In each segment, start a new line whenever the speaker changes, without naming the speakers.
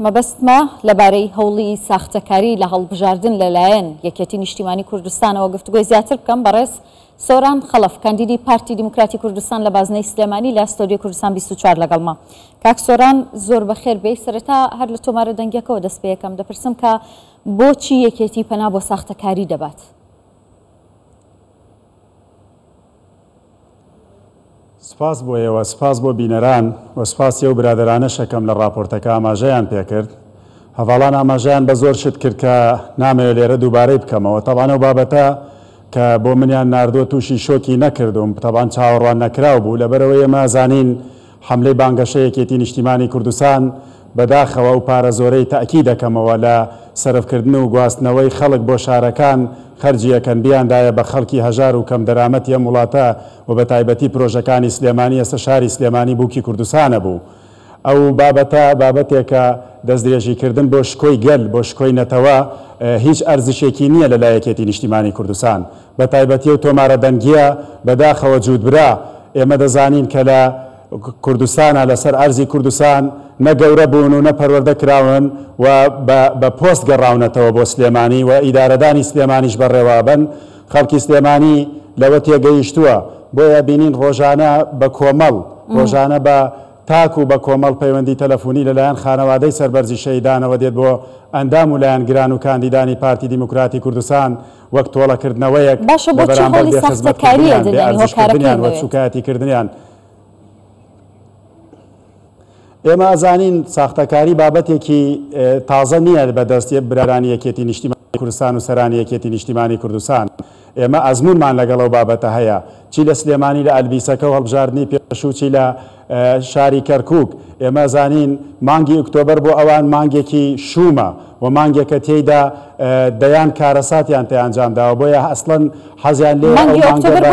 مەبەستمە لەبارەی هەوڵی ساختەکاری لە هەڵبژاردن لەلایەن یەکێتی نیشتیمانی کوردستانەوە گفتوگۆی زیاتر بکەم، بەڕێز سۆران خەڵەف کاندیدی پارتی دیموکراتی کوردستان لە بازنەی سلێمانی لە ستۆدیۆی کوردستان بیست و چوار لەگەڵمە. کاک سۆران زۆر بەخێر بێی، سەرەتا هەر لە تۆمارە دەنگیەکەوە دەست پێەکەم، دەپرسم کە بۆچی یەکێتی پەنا بۆ ساختەکاری دەبات؟
سپاس بۆ ئێوە، سپاس بۆ بینەران و سپاسی ئەو برادەرانەشە کەم لە ڕاپۆرتەکە ئاماژەیان پێکرد. هەڤاڵان ئاماژەیان بە زۆر شت کرد کە نامەوێت لێرە دووبارەی بکەمەوە. تەبعەن ئەو بابەتە کە بۆ منیان ناردووە تووشی شۆکی نەکردووم، تەبعەن چاوەڕواننەکراو بوو، لەبەرئەوەی ئێمە ئەزانین حەملەی بانگەشەی یەکێتی نیشتیمانی کوردستان، بەداخەوە ئەو پارە زۆرەی تەئکی دەکەمەوە لە سەرفکردن و گواستنەوەی خەڵک بۆ شارەکان خەرجی ئەکەن بیاندایە بە خەڵکی هەژار و کەم دەرامەتی ئەم وڵاتە و بە تایبەتی پرۆژەکانی سلێمانی ئێستە شاری سلێمانی بوکی کوردستانە بوو ئەو بابەتە بابەتێکە دەستدرێژی کردن بۆ شکۆی گەل بۆ شکۆی نەتەوە هیچ ئەرزشێکی نیە لە لای یەکێتی نیشتیمانی کوردستان بە تایبەتی ئەو تۆمارە دەنگییە بەداخەوە جووت برا، ئێمە دەزانین کە لە کوردستانا لە سەر ئەرزی کوردستان نە گەورە بوون و نە پەروەردە کراون و بە بە پۆست گەڕاونەتەوە بۆ سلێمانی و ئیدارەدانی سلێمانیش بەڕێوابەن خەڵکی سلێمانی لەوە تێگەیشتووە بۆیە بینین ڕۆژانە بە کۆمەڵ ڕۆژانە بە تاک و بە کۆمەڵ پەیوەندی تەلەفونی لە لایەن خانەوادەی سەربەرزی شەهیدانەوە دێت بۆ ئەندام و لایەنگران و کاندیدانی پارتی دیموکراتی کوردستان وەک تۆڵەکردنەوەیەک باشە لە بۆچی بەرامبەر هەوڵی بێ خزمەت ساختەکاریی کردنیان، بێ دەدەن ئەرزش هۆکارەکەی کردنیان و لەوێ. سوکایەتی کردنیان. ئێمە ئەزانین ساختەکاری بابەتێکی تازە نییە بە دەست برارانی یەکێتی نیشتیمانی کوردستان و سەرانی یەکێتی نیشتیمانی کوردستان. ئێمە ئەزموونمان لەگەڵ ئەو بابەتە هەیە چی لە سلێمانی لە ئەلبیسەکە و هەڵبژاردنی پێشوو چی لە شاری کەرکووک، ئێمە زانین مانگی ئۆکتۆبەر بۆ ئەوان مانگێکی شوومە و مانگێکە تێیدا دەیان کارەساتیان پێ ئەنجام داوە، بۆیە ئەسڵەن حەزیان لێیە ئەو مانگە بە لە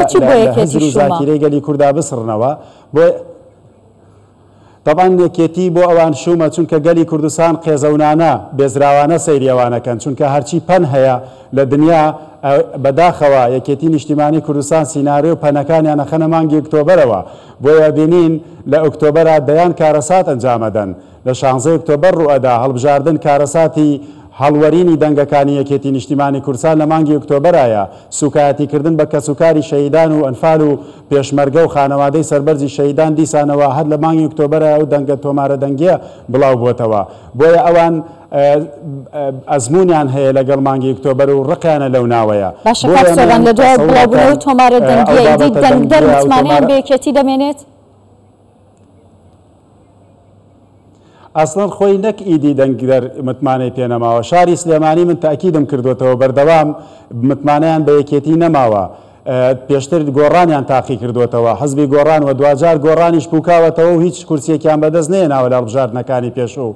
هزر و زاکیرەی گەلی کوردا بسڕنەوە، بۆیە تەبعەن یەکێتی بۆ ئەوان شوومە، چونکە گەلی کوردستان قێزەونانە، بێزراوانە سەیری ئەوان ئەکەن، چونکە هەرچی پەن هەیە لە دنیا، بەداخەوە یەکێتی نیشتیمانی کوردستان سیناریۆ و پەنەکانیان ئەخەنە مانگی ئۆکتۆبەرەوە، بۆیە ئەبینین لە ئۆکتۆبەرا دەیان کارەسات ئەنجام ئەدەن، لە شانزەی ئۆکتۆبەر ڕووئەدا هەڵبژاردن کارەساتی هەڵوەرینی دەنگەکانی یەکێتی نیشتیمانی کوردسان لە مانگی ئۆکتۆبەرایە، سووکایەتی کردن بە کەس و کاری شەهیدان و ئەنفال و پێشمەرگە و خانەوادەی سەربەرزی شەهیدان دیسانەوە هەر لە مانگی ئۆکتۆبەرا ئەو دەنگە تۆمارە دەنگیە بڵاو بۆتەوە بۆیە ئەوان ئەزموونیان هەیە لەگەڵ مانگی ئۆکتۆبەر و ڕقیانە لەو ناوەیە. باشە کاک سۆران لە
دوای بڵاوبونەوەی ئەو تۆمارە دەنگییە ئیدی دەنگدەر متمانەیان
بە یەکێتی دەمێنێت؟ ئەسڵەن خۆی نەک ئیدی دەنگدەر متمانەی پێ نەماوە شاری سلێمانی من تاکیدم کردوەتەوە بەردەوام متمانەیان بە یەکێتی نەماوە پێشتر گۆڕانیان تاقی کردوتەوە حزبی گۆڕان و دواجار گۆڕانیش پوکاوەتەوە و هیچ کورسێکیان بەدەست نێناوە لە هەڵبژاردنەکانی پێشوو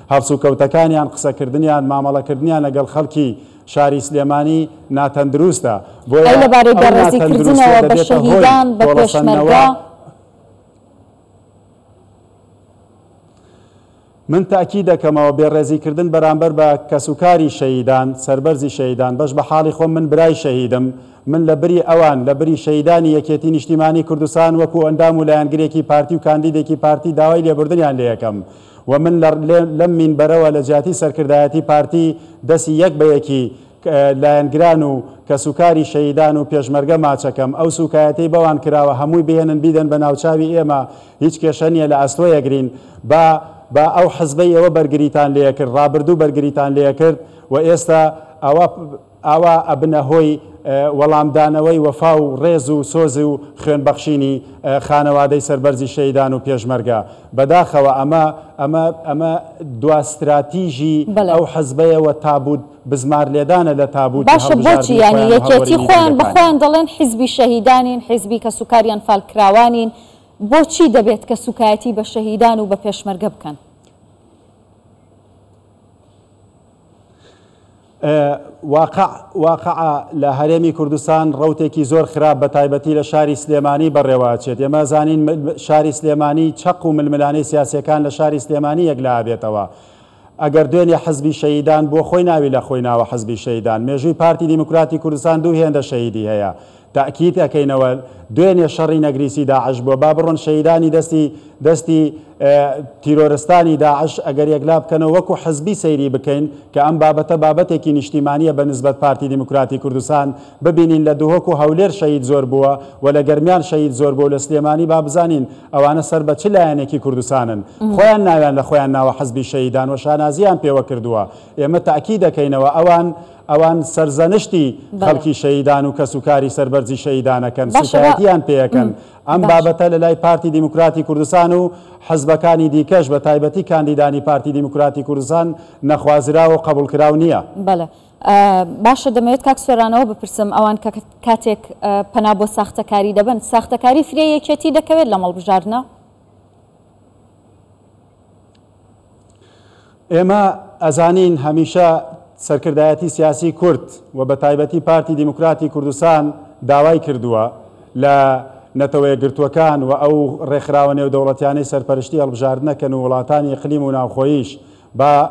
هەڵسوکەوتەکانیان، قسەکردنیان، مامەڵەکردنیان لەگەڵ خەڵکی شاری سلێمانی ناتەندروستە، بۆیە ئەو ناتەندروستیە
دەبێتە هۆی تۆڵەسەندنەوە.
من تەئکید دەکەمەوە بێڕێزیکردن بەرامبەر بە کەسوکاری شەهیدان، سەربەرزی شەهیدان، بەش بە حاڵی خۆم من برای شەهیدم، من لە بری ئەوان، لە بری شەهیدانی یەکێتی نیشتیمانی کوردستان وەکو ئەندام و لایەنگرێکی پارتی و کاندیدێکی پارتی داوای لێبوردنیان لێەکەم. و من لە لەم مینبەرەوە لە جیاتی سەرکردایەتی پارتی دەسی یەک بە یەکی لایەنگران و کەسوکاری شەهیدان و پێشمەرگە ماچەکەم، ئەو سوکایەتەی بەوان کراوە هەمووی بهێنن بیدەن بە ناوچاوی ئێمە هیچ کێشە نیە لە ئەستۆ یەگرین با با ئەو حزبەی ئێوە بەرگریتان لێکرد ڕابردوو بەرگریتان لێکرد و ئێستا ئەوە ئاوا ئەبنە هۆی وەڵامدانەوەی وەفا و ڕێز و سۆز و خوێن بەخشینی خانەوادەی سەربەرزی شەهیدان و پێشمەرگە. بەداخەوە ئەمە ئەمە ئەمە دوا ستراتیژی ئەو حزبەیە و تابووت بزمار لێدانە لە تابووتی هەڵبژاردنی خۆیان و هەڵوەرینی دەنگەکانیان. باشە بۆچی یانی
یەکێتی خۆیان بە خۆیان دەڵێن حزبی شەهیدانین، حزبی کەس و کاریان فالکراوانین، بۆچی دەبێت کە سوکایەتی بە شەهیدان و بە پێشمەرگە بکەن؟
واقع واقع لە هەرێمی کوردستان ڕەوتێکی زۆر خراپ بە تایبەتی لە شاری سلێمانی بەڕێوە ئەچێت ئێمە زانین شاری سلێمانی چەق و ململانەی سیاسیەکان لە شاری سلێمانی یەک لا ئەبێتەوە ئەگەر دوێنێ حزبی شەیدان بۆ خۆی ناوی لە خۆی ناوە حزبی شەیدان مێژووی پارتی دیموکراتی کوردستان دوو هێندە شەیدی هەیە تاکید ئەکەینەوە دوێنێ شەڕی نەگریسی داعش بووە با بڕۆن شەهیدانی دەستی دەستی تیرۆرستانی داعش ئەگەر یەکلا بکەنەوە وەکو حزبی سەیری بکەین کە ئەم بابەتە بابەتێکی نیشتیمانیە بە نسبەت پارتی دیموکراتی کوردستان ببینین لە دهۆک و هەولێر شەهید زۆر بووە و لە گەرمیان شەهید زۆر بووە لە سلێمانی با بزانین ئەوانە سەر بە چ لایەنێکی کوردستانن خۆیان ناویان لە خۆیان ناوە حزبی شەهیدان و شانازیان پێوە کردووە ئێمە تاکی دەکەینەوە ئەوان ئەوان سەرزەنشتی خەڵکی شەهیدان و کەسوکاری سەربەرزی شەهیدان ئەکەن، سووکایەتییان پێ ئەکەن. ئەم بابەتە لە لای پارتی دیموکراتی کوردستان و حزبەکانی دیکەش، بە تایبەتی کاندیدانی پارتی دیموکراتی کوردستان نەخوازراو و قەبووڵکراو نییە. بەڵێ.
باشە دەمەوێت کاک سۆرانەوە بپرسم، ئەوان کە کاتێک پەنا بۆ ساختەکاری دەبەن، ساختەکاری فرێی یەکێتی دەکەوێت لەم هەڵبژاردنە؟
ئێمە ئەزانین هەمیشە سەرکردایەتی سیاسی کورد و بە تایبەتی پارتی دیموکراتی کوردستان داوای کردووە لە نەتەوە یەکگرتووەکان و ئەو ڕێکخراوە نێودەوڵەتیانەی سەرپەرشتی هەڵبژاردنەکەن و وڵاتانی ئیقلیم و ناوخۆییش با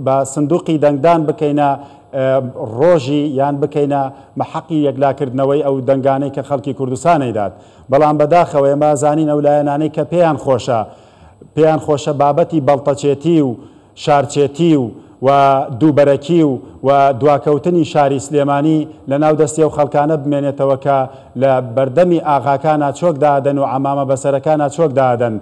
بە سندوقی دەنگدان بکەینە ڕۆژی یان بکەینە مەحەقی یەکلاکردنەوەی ئەو دەنگانەی کە خەڵکی کوردستان ئەیدات بەڵام بەداخەوە ئێمە ئەزانین ئەو لایەنانەی کە پێیان خۆشە پێیان خۆشە بابەتی بەڵتەچێتی و شارچێتی و و دووبەرەکی و و دواکەوتنی شاری سلێمانی لە ناو دەستی ئەو خەڵکانە بمێنێتەوە کە لە بەردەمی ئاغاکانە چۆک دادەن و عەمامە بەسەرەکانە چۆک دادەن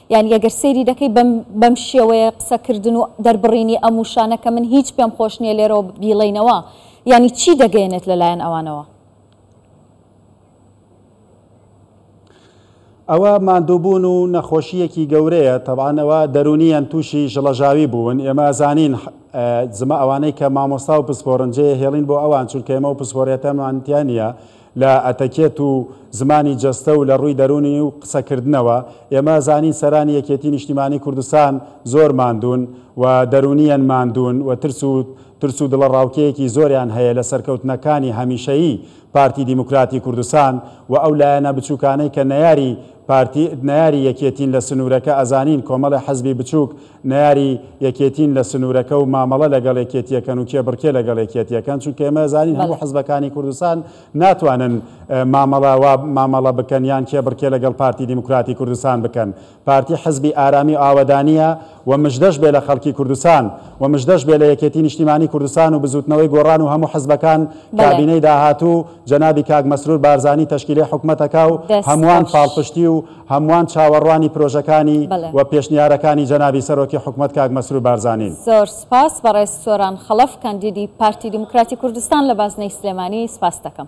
یانی ئەگەر سەیری دەکەی بەم بەم شێوەیە قسە کردن و دەربڕینی ئەم وشانە کە من هیچ پێم خۆش نییە لێرەوە بیڵێینەوە یانی چی دەگەیەنێت لە لایەن ئەوانەوە؟
ئەوە ماندووبوون و نەخۆشییەکی گەورەیە تەبان ئەوە دەرونیان تووشی ژڵەژاوی بوون ئێمە زانین زمە ئەوانەی کە مامۆستا و پسپۆرنجەیە هێڵین بۆ ئەوان چونکە ئێمە و پسپۆرێتەمانتیان نیە لە ئەتەکێت و زمانی جەستە و لە ڕووی دەروونی و قسەکردنەوە، ئێمە زانین سەرانی یەکێتی نیشتیمانی کوردستان زۆر ماندوون و دەروونیەن ماندوون و ترس و ترس و دڵەڕاوکێیەکی زۆریان هەیە لە سەرکەوتنەکانی هەمیشەیی پارتی دیموکراتی کوردستان و ئەو لایەنە بچووکانەی کە نەیاری پارتی نەیاری یەکێتین لە سنوورەکە ئەزانین کۆمەڵێ حزبی بچووک نەیاری یەکێتین لە سنورەکە و مامەڵە لەگەڵ یەکێتیەکەن و کێبڕکێ لەگەڵ یەکێتیەکەن چونکە ئێمە ئەزانین هەموو بەڵێ. حزبەکانی کوردستان ناتوانن مامەڵە وا مامەڵە بکەن یان کێبڕکێ لەگەڵ پارتی دیموکراتی کوردستان بکەن پارتی حزبی ئارامی و ئاوەدانیە و مژدەش بێ لە خەڵکی کوردستان و مژدەش بێ لە یەکێتی نیشتیمانی کوردستان و بزوتنەوەی گۆڕان و هەموو حزبەکان بەڵێ. کابینەی داهاتوو جەنابی کاک مەسرور بارزانی تەشکیلێ حکومەتەکا و دەست هەموان خۆش. پاڵپشتی و هەمووان چاوەڕوانی پرۆژەکانی بەڵێ. و پێشنیارەکانی جەنابی سەرۆکی حکومەت کاک مەسرور بارزانین. زۆر سوپاس
بەڕێز سۆران خەڵەف کاندیدی پارتی دیموکراتی کوردستان لە بازنەی سلێمانی سپاست دەکەم.